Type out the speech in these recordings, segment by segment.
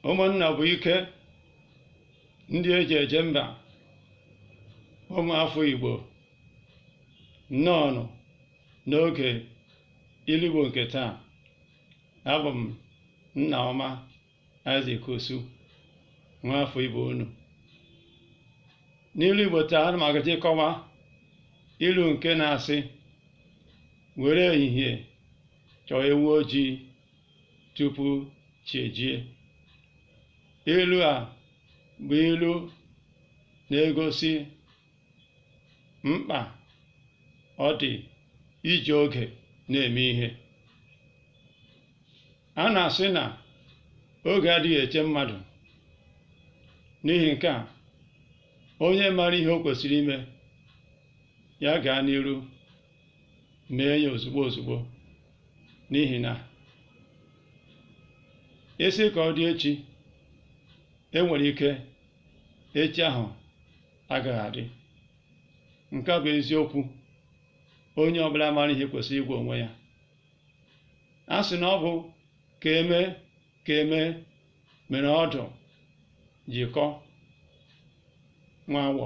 ụmụnna bụ ike ndị eji eje mba ụmụafọ igbo nnọọnụ n'oge ilu igbo nke taa abụ m nna ọma Isaac Osu nwaafọ igbo unu n'ilu igbo taa ana m agaje ịkọwa ilu nke na-asị were ehihie chọọ ewu ojii tupu chi ejie ilu a bụ ilu na-egosi mkpa ọ dị iji oge na-eme ihe a na-asị na oge adịghị eche mmadụ n'ihi nke a onye mara ihe o kwesịrị ime ya gaa n'iru mee ya ozugbo ozugbo n'ihi na ị sị ka ọ dị echi enwere ike echi ahụ agaghị adị nke bụ eziokwu onye ọbụla mara ihe kwesịrị ịgwa onwe ya a sị na ọ bụ ka eme ka eme mere ọdụ ji kọọ nwa awọ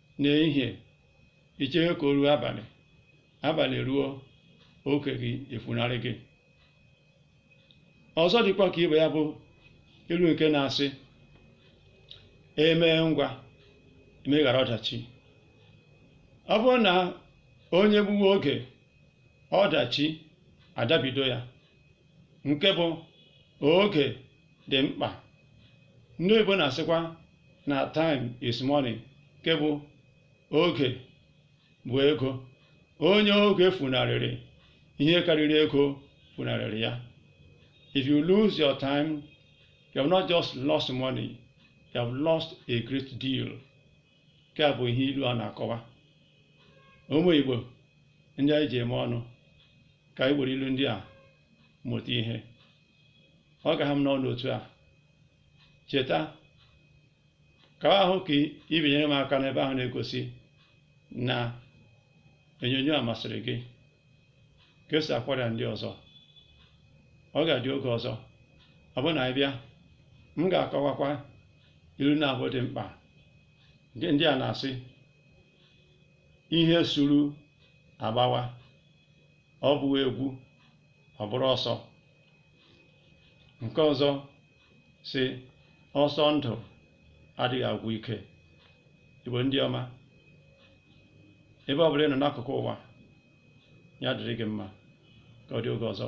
n'ehihie i chewe ka o ruo abalị abalị ruo oke gị efunarị gị ọzọ dịkwa ka ibe ya bụ ilu nke na-asị emee ngwa emeghara ọdachi ọ bụrụ na onye gbuwe oge ọdachi adabido ya nke bụ oge dị mkpa ndị oyibo na-asịkwa na time is money nke bụ oge bụ ego onye oge funarịrị ihe karịrị ego funarịrị ya if you lose your time you have not just lost money you have lost a great deal nke a bụ ihe ilu a na-akọwa ụmụ Igbo ndị anyị ji eme ọnụ ka anyị were ilu ndị a mụta ihe ọ ga-aha m n'ọnụ otu a chetakwa hụ ka i binyere m aka n'ebe ahụ na-egosi na onyonyo a masịrị gị kesaakwara ndị ọzọ ọ ga-adị oge ọzọ ọ bụrụ na anyị bịa m ga-akọwakwa ilu naabọ dị mkpa nke ndị a na-asị ihe suru agbawa ọ bụghị egwu ọ bụrụ ọsọ nke ọzọ sị ọsọ ndụ adịghị agwụ ike igbo ndị ọma ebe ọ bụla ị nọ n'akụkụ ụwa ya dịrị gị mma ka ọ dị oge ọzọ